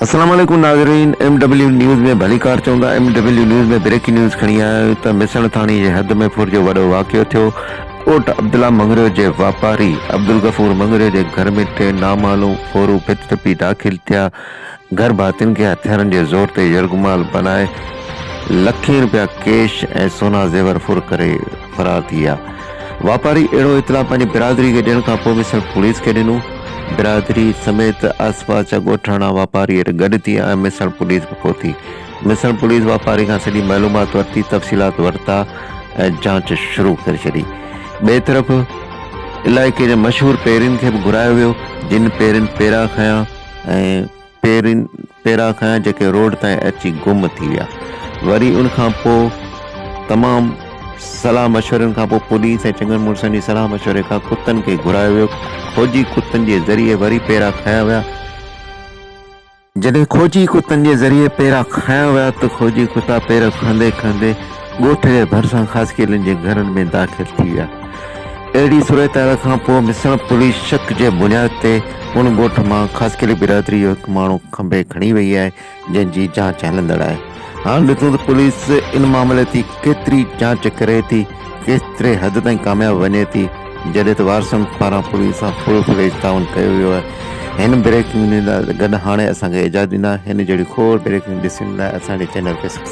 السلام عليڪم ناظرين ايم ڊبليو نيوز ۾ ڀليڪار چوندا M W news ۾ breaking news کڻي آيا آهيون ته مسڻ ٿاڻي جي حد ۾ ڦر جو وڏو واقعو ٿيو ڪوٽ عبدالله مڱريو جي واپاري عبدالغفور مڱريو جي گهر ۾ ٽي نامعلوم ڦورون ڀت ٽپي داخل ٿيا گهر ڀاتين کي هٿيارن جي زور تي يرغمال بنائي لکين رپيا ڪيش ۽ سونا زيور ڦر ڪري فرار ٿي ويا. واپاري اهڙو اطلاع پنهنجي برادري کي ڏيڻ کان پوء به صرف پوليس کي ڏنو. برادري سميت آسپاس جا ڳوٺاڻا واپاري اڏ گڏ ٿي ۽ مصڻ پوليس به پهتي. مصڻ پوليس واپاري کان سڄي معلومات ورتي، تفصيلات ورتا ۽ جاچ شروع ڪري ڇڏي. ٻئي طرف علائقي جي مشهور پيرين کي به گهرايو ويو، جن پيرين پيرا کنيا. ۽ پيرا کان جيڪي روڊ تائين اچي گم ٿي ويا وري ان کان پوء تمام صلاح مشورن کان پوء پوليس ۽ چڱن مڙسن جي صلاح مشوري کان ڪتن کي گهرايو ويو کوجي ڪتن جي ذريعي وري پيرا کنيا ويا جڏهن کوجي ڪتن جي ذريعي پيرا کنيا ويا ته کوجي ڪتا پيرا کندي کندي ڳوٺ جي ڀرسان خاصخيلين جي گهرن ۾ داخل ٿي ويا. اهڙي صورتحال کان پوء مسڻ پوليس شڪ جي بنياد تي ان ڳوٺ مان خاصخيلي برادري جو هڪ ماڻهو کنڀي کڻي وئي آهي جنهن جي جاچ هلندڙ آهي. هاڻ ڏسون ته پوليس ان معاملي تي ڪيتري جاچ ڪري ٿي، ڪيستري حد تائين ڪامياب وڃي ٿي جڏهن ته وارثن پاران پوليس سان فل فليج تعاون ڪيو ويو آهي. هن بريڪنگ نيوز گڏ هاڻي اسان کي اجازت ڏيندا هن جهڙي کوڙ بريڪنگ ڏسڻ لاء اسان جي چينل کي سبسڪرائيب.